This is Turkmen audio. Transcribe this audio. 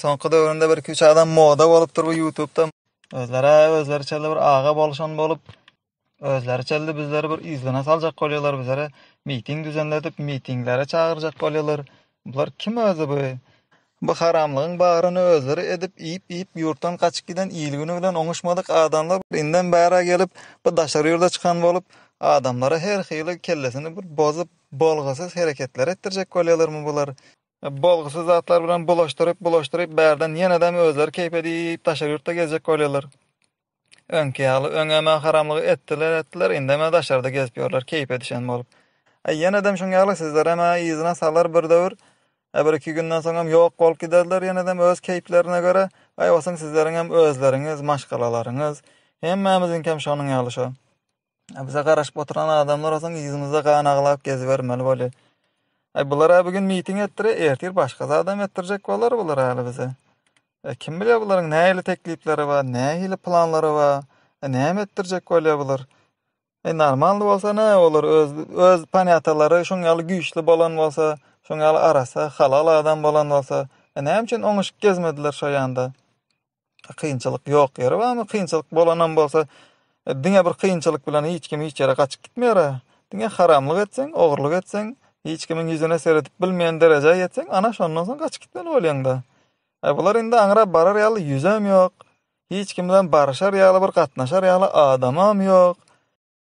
Soňky döwründe birki üç adam moda bolupdyr bu ýutubda. Özlerä özleriçelde bir aga boluşan bolup, özleriçelde bizleri bir yzgyna saljak bolýarlar, bizlere miting düzenledip, mitinglere çagyrjak bolýarlar. Bular kim özi bu? Bu haramlygyň bagryny özleri edip, iýip-iýip ýurtdan gaçyp giden il-güni bilen oňuşmadyk adamlar indem bärä gelip, bu daşary ýurda çykan bolup, adamlara her hili kellesini bir bozup, bolgusyz hereketleri etdirjek bolýarlarmy bular? Bolgusyz zatlar bilen bulaşdyryp, bulaşdyryp, bärden ýenedem özleri keýp edip, daşary ýurtda gezjek bolýarlar. Öňki ýaly, öňem-ä haramlygy etdiler, etdiler, indem-ä daşarda gezip ýörler, keýp edişen bolup. Aý, ýenedem şuň ýaly, sizlerem-ä yzyna salar bir döwür. Ä bir-iki günden soňam ýok bolup giderler ýenedem öz keýplerine görä. Aýwasyň sizleriňem özleriňiz, maşgalalaryňyz. Hemmämiziňkem şonuň ýaly şo. A bize garaşyp oturan adamlar olsun ýüzümizde gan aglap gezibermeli boli. Ay bular a bugün miting etdire, ertir başga zadam etdirjek bolar bular ali bize. E, kim bilýär bularyň nähili teklipleri bar, nähili planlary bar, e, näme etdirjek bolýar bular. E, normalny bolsa ne olur, öz, öz panýatalary şun ýaly güýçli bolan bolsa, şun ýaly arasa, halal adam bolan bolsa, e, näme üçin oňuşyp gezmediler şo ýanda. Kynçylyk ýok ýeri barmy? Kynçylyk bolanam bolsa, e, diňe bir kynçylyk bilen hiç kim hiç ýere gaçyp gitmeýär. Diňe haramlyk etseň, ogurlyk etseň, hiç kimiň ýüzüne seredip bilmeýän derejä ýetseň, ana şondan soň gaçyp gitmeli bolýaňda. E, bular indi aňra barar ýaly ýüzem ýok. Hiç kim bilen barşar ýaly, bir gatnaşar ýaly adamam ýok.